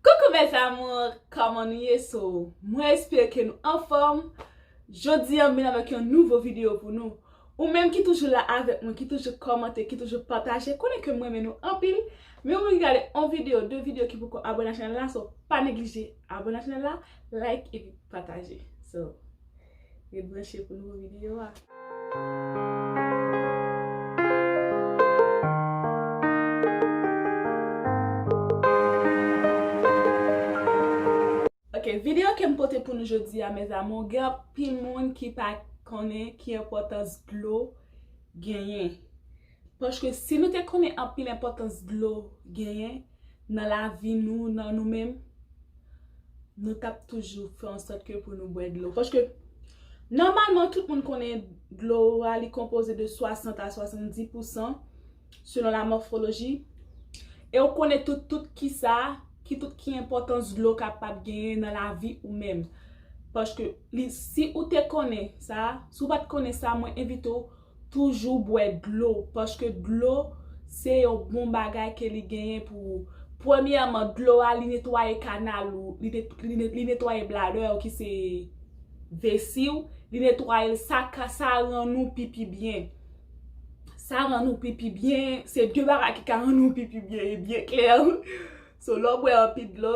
Coucou mes amours, kòman nou ye so mwen espere ke nou anfòm Jodi an m vin avèk yon nouvo video pou nou Ou menm ki toujou la avèk mwen, ki toujou kòmante, ki toujou pataje konnen ke m renmen nou anpil Men ou menm ki gade on video, de video ki poko abòne ak chanèl la, so pa neglije abòne ak chanèl la, like epi pataje So Ret branche pou nouvo videyo a. Ok videyo kem pote pou nou jodi a mes amour gen anpil moun ki pa konnen ki enpotans dlo genyen. Paske si nou te konnen anpil enpòtans dlo genyen nan lavi nou, nan nou menm, nou t ap toujou fè an sòt ke pou nou bwè dlo. Paske, nòmalman tout moun konnen dlo a li konpoze de 60 a 70 pousan, selon la mòfoloji, e ou konnen tout tout ki sa, ki tout ki enpòtans dlo kapab genyen nan lavi ou menm. Paske, si ou te konnen sa, si ou pa t konnen sa, mwen envite ou, Toujou bwè dlo, paske dlo se yon bon bagay ke li genyen pou ou. Premyèman, dlo a li netwaye kanal ou, li netwaye bladè ou ki se vesi ou, li netwaye l, sa ka, sa rann ou pipi byen. Sa rann ou pipi byen, se de bagay ki ka rann ou pipi byen, e byen klè. So lè w bwè anpil dlo,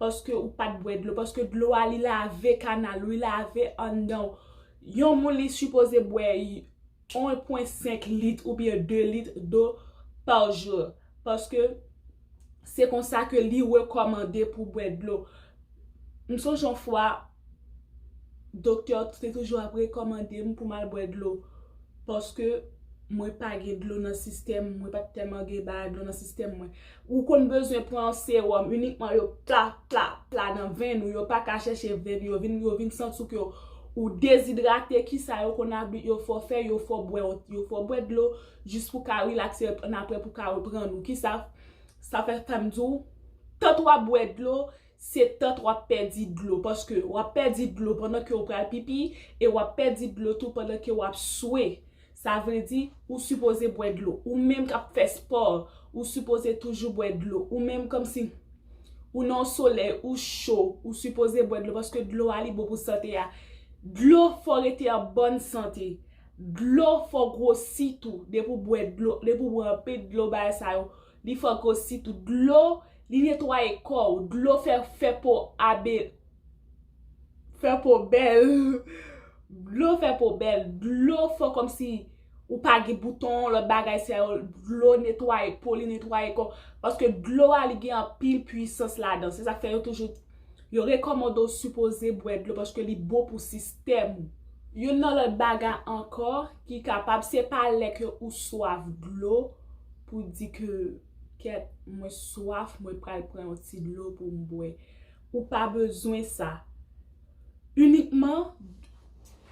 Paske ou pat bwè dlo, paske dlo a li lave kanal ou, li lave anndan ou. Yon moun li sipoze bwè 1.5 lit oubyen 2 lit do par jour. Paske se konsa ke li rekòmande pou bwè dlo. M sonje yon fwa. Doktè yo te toujou ap rekòmande m pou m al bwè dlo. Paske mwen pa gen dlo nan sistèm, mwen pa t tèlman gen bagay dlo nan sistèm mwen. Ou konn bezwen pran yon sewòm inikman yo pla, pla, pla nan venn ou. Yo pa ka chèche venn ou. Yo vin santi w ke ou dezidrate. Kisa yo konn abit yo fè w fè? Yo fè w bwè yon, yo fè w bwè dlo jis pou w ka rilakse annapre pou w ka reprann ou. Kisa sa fè fè m di w? Tank w ap bwè dlo. se tan t wap pèdi dlo paske wap pèdi dlo pandan ke ou pral pipi e wap pèdi dlo tou pandan ke wap swe sa vle di ou sipoze bwè dlo ou menm kap fè spò ou sipoze toujou bwè dlo ou menm kòmsi ou nan yon solèy ou cho ou sipoze bwè dlo paske dlo a li bon pou sante a dlo fò rete an bòn sante dlo fò gwosi tou depi ou bwè dlo depi ou bwè anpil dlo bagay sa yo Li fò grossi tou dlo li netwaye kò ou dlo fè fè po a be fè po bèl dlo fè po bèl dlo fò kòmsi ou pa gen bouton lòt bagay sa yo dlo netwaye po li netwaye kò paske dlo a li gen anpil pwisans ladan se sak fè yo toujou yo rekòmande ou sipoze bwè dlo paske li bon pou sistèm ou. Youn nan lòt bagay ankò Ki kapab, se pa lè ke ou swaf dlo pou di ke kèt mwen swaf mwen pral pran yon ti dlo pou m bwè. Ou pa bezwen sa. Inikman,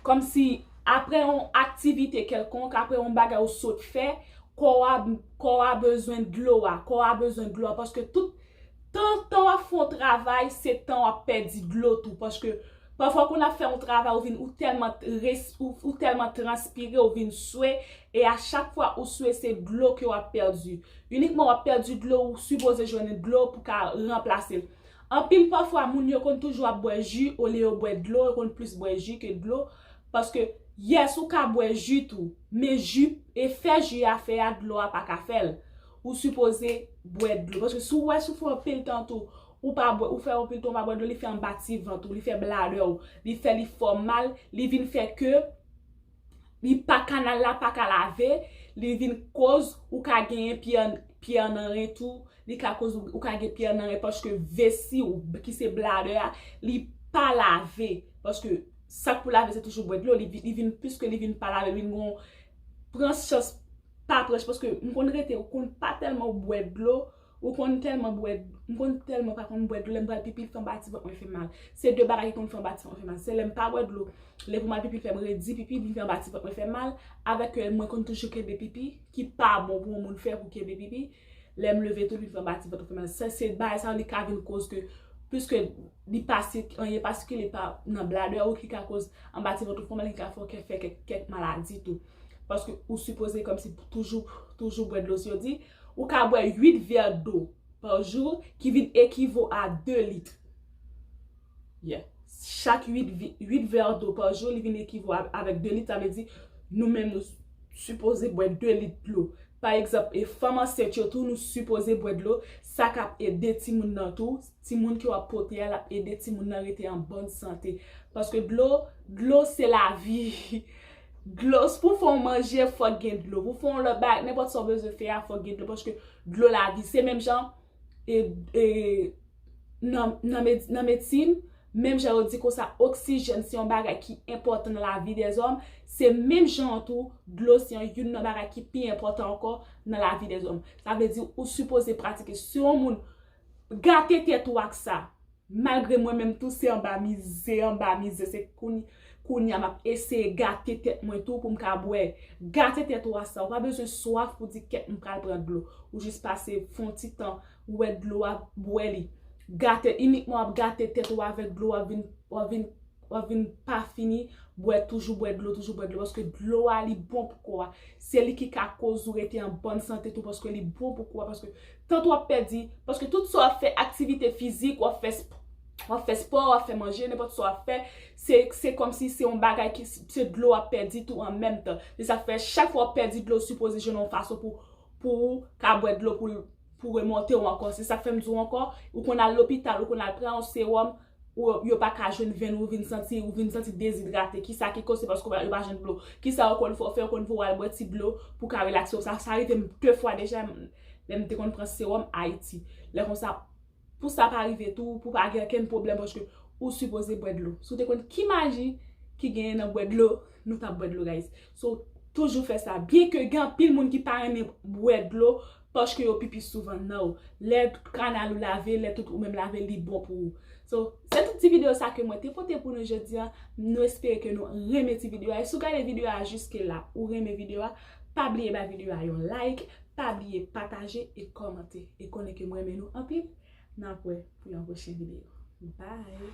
kòm si apre yon aktivite kèlkonk, apre yon bagay ou sot fè, kò a, kò a bezwen dlo a, kò a bezwen dlo a paske tout tan tan wap fè yon travay se tan wap pèdi dlo tou paske Pafwa kon ap fè yon travay ou vin ou tèlman res ou tèlman transpire ou vin swe e a chak fwa ou swe se dlo ke wap pèdi inikman wap pèdi dlo ou sipoze jwenn dlo pou ka ranplasel anpil pafwa moun yo konn toujou ap bwè ji olye yo bwè dlo yo konn plis bwè ji ke dlo paske yes ou ka bwè ji tou men ji efè ji a fè a dlo a paka fèl ou sipoze bwè dlo paske si ou wè si ou fè anpil tan tou Ou pa bwè, ou fè yon piriton ou pa bwè dlo li fè anba ti vant ou, li fè bladè ou, li fè li fè w mal, li vin fè ke li pa kanal la pa ka lave, li vin koz ou ka genyen pyè an nan ren tou, li ka koz ou ka gen pyè an nan ren paske vesi ou ki se bladè a li pa lave paske sak pou lave se toujou bwè dlo, li vin plis ke li vin pa lave, li vin gon pran chans pa pran chans paske m konn rete ou konn pa tèlman bwè dlo. Ou konn tèlman bwè dlo. M konn tèlman pa konn bwè dlo lè m pral pipi l fè m ba ti vant mwen fè mal. Se 2 bagay ki konn fè m ba ti vant mwen fè mal. Se lè m pa bwè dlo lè pou m al pipi l fè m redi pipi vin fè m ba ti vant mwen fè mal avèk ke mwen konn toujou kenbe pipi ki pa bon pou yon moun fè pou kenbe pipi lè m leve tou vin fè m ba ti vant mwen fè mal. Sa se bagay sa yo li ka vin koz ke piske li pa sik anyen pa sikile pa nan bladè ou ki ka koz anba ti vant ou fè w mal ki ka fè w kè fè kèk maladi tou. Paske ou sipoze kòmsi toujou toujou bwè dlo si yo di. Ou ka bwè 8 vè dlo pa jou ki vin ekivo a 2 lit. Yeah. Chak 8 vè dlo pa jou li vin ekivo avèk 2 lit sa vle di nou menm nou sipoze bwè 2 lit dlo. Pa egzanp e fanm ansent yo tou nou sipoze bwè dlo sa k ap ede timoun nan tou, timoun ke w ap pote a l ap ede timoun nan rete an bòn sante. Paske dlo, dlo se lavi. Dlo, si pou fè yon manje fòk gen dlo, pou fè yon lòt bagay, nenpòt sa w bezwen fè a fòk gen dlo paske dlo lavi, se menm jan nan medsin, menm jan yo di konsa oksijèn se yon bagay ki enpòtan nan lavi dèzòm, se menm jan an tou dlo se yon youn nan bagay ki pi enpòtan ankò nan lavi dèzòm. Sa vle di ou sipoze pratike, si yon moun gate tèt ou ak sa. Malgre mwen menm tou se anba mize anba mize se kounya map eseye gate tèt mwen tou poum ka bwè. Gate tèt ou a sa ou pa bezwen swaf pou di kèt m pral pran dlo. Ou jis pase fon ti tan ou wè dlo a bwè li. Gate inikman wap gate tèt ou avèk dlo wap vin wap vin. Wap vin pa fini bwè toujou bwè dlo toujou bwè dlo paske dlo a li bon pou kò a se li ki ka koz ou rete an bòn sante tou paske li bon pou kò a paske tant wap pèdi paske tout sa wap fè aktivite fizik wap fè wap fè spò wap fè manje nenpòt sa wap fè se se kòmsi se yon bagay ki se dlo wap pèdi tou an menm tan se sak fè chak fwa wap pèdi dlo sipoze jwenn yon fason pou pou ou ka bwè dlo pou pou remonte ou ankò se sak fèm di ou ankò ou konn al lopital ou konn al pran yon sewòm Ou yo pa ka jwenn venn ou vin santi ou vin santi dezidrate ki sa ki koz se paske ou pa jwenn dlo ki sa ou konn fè ou fè ou konn voye al bwè ti dlo pou ka relakse ou sa rive m 2 fwa deja lè m te konn pran sewòm ayiti lè konsa pou sa pa rive tou pou pa gen okenn pwoblèm paske ou sipoze bwè dlo si w te konn ki maji ki genyen nan bwè dlo nou tap bwè dlo guys so toujou fè sa byen ke gen anpil moun ki pa renmen bwè dlo. Paske yo pipi souvan nan ou. Lè kanal ou lave, lè tout ou menm lave li bon pou ou. So, se tout ti video sa ke mwen te pote pou nou jodi an. Nou espere ke nou renmen ti video a. E si ou gade video a jiske la, ou renmen video a, pa bliye bay video a yon like, pa bliye pataje e kòmante. E konnen ke m renmen nou anpil. N ap wè pou yon pwochen video. Bye!